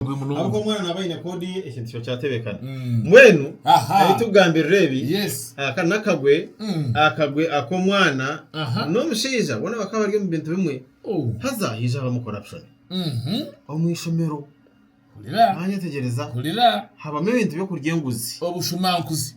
Murungi munonga. Ahabw'oku omwana naaba aine koodi ye, ekintu kiba kyatebekana. Mm. Mbwenu, Aha. ahi turikugambirira ebi, Yes. aka n'akagwe, Mm. akagwe ak'omwana Aha. n'omushaija boona bakaba bari omu bintu bimwe. Oh. Haza haija habamu corruption Mhm. omu ishomero. Hurira. Mwanyetegyereza, Hurira. habamu ebintu by'okurya enguzi. Obushumankuzi.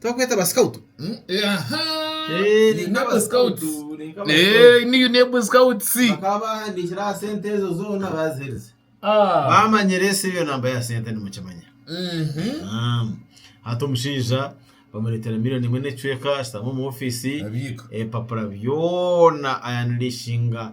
Tibakweeta ba scout? Mm, eh, aha. Eh, Ni Naba Naba Scouts. Scouts, ni Naba Eh, ni Unebo Scouts. bakaba bahandikire aha sente ezo zoona baziherize Ah. bamanyire esi eyo namba ya sente nimukimanya Mhm. Ah, hati omushaija bamureetera miliyoni emwe n'ecweka ashutami omu ofiisi Abiika. ebipapura byona ayanilishinga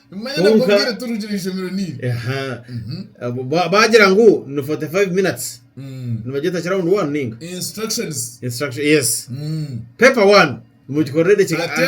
Kwonka baagira ngu ni 45 minutes, nibagyeta round one ninga? Paper one mugikorere edakiika ikumi.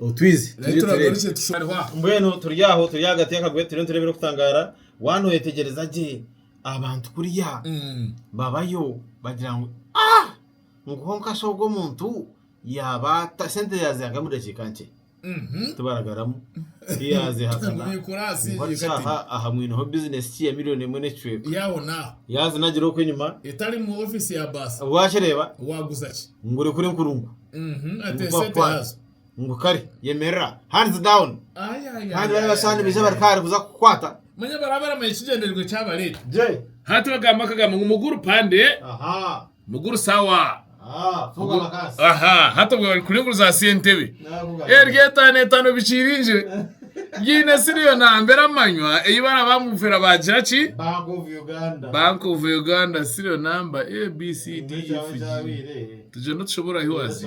Otwizi Nahi turi turebe. turagarukye tusharihwa. Mbwenu turi aho turi ahagati y'akagwe turiyo nitureeba ebirikutangaara, waanoyetegereza gye abantu kuriya Mm. babayo bagira ngu ah! Nguho nkasha ogwo omuntu yaaba ata sente yaaziha nk'omu dakiika nkye Mhm. tibaragaramu tiyaazihakana Nkubiikura ahasinzire Ngu hati kati. shaaha aha mwineho bizinesi ki ya miliyoni emwe n'ekicweka Yaho naho. yaazi nagira oku enyima Etari mu office ya baasi. waakireba Waaguza ki? ngu ori kuri nkurungu Mhm, ati Ngu esente kwakwana. haza. ngu kare yemerera hands down Ai, ai, ai, kandi bari ai, basani ai, biija ai, bari ai. kare kuza kukwata manya baraba baramanya ekigyendererwa ekyabareeta gye hati bagamba kagamba ngu muguru pande aha muguru sawa aha funga amakasi aha hati obwo bari kuringuruza aha sentebe Nakugaruka. eryo etaano etaano bikiringire Ngiine siriiyo nambere amanywa ei baraba ngu mpera baagira ki? Bank of Uganda. Bank of Uganda siriiyo namba A, B, C, D, E, F, G. Tugyenda otushobora hi wazi?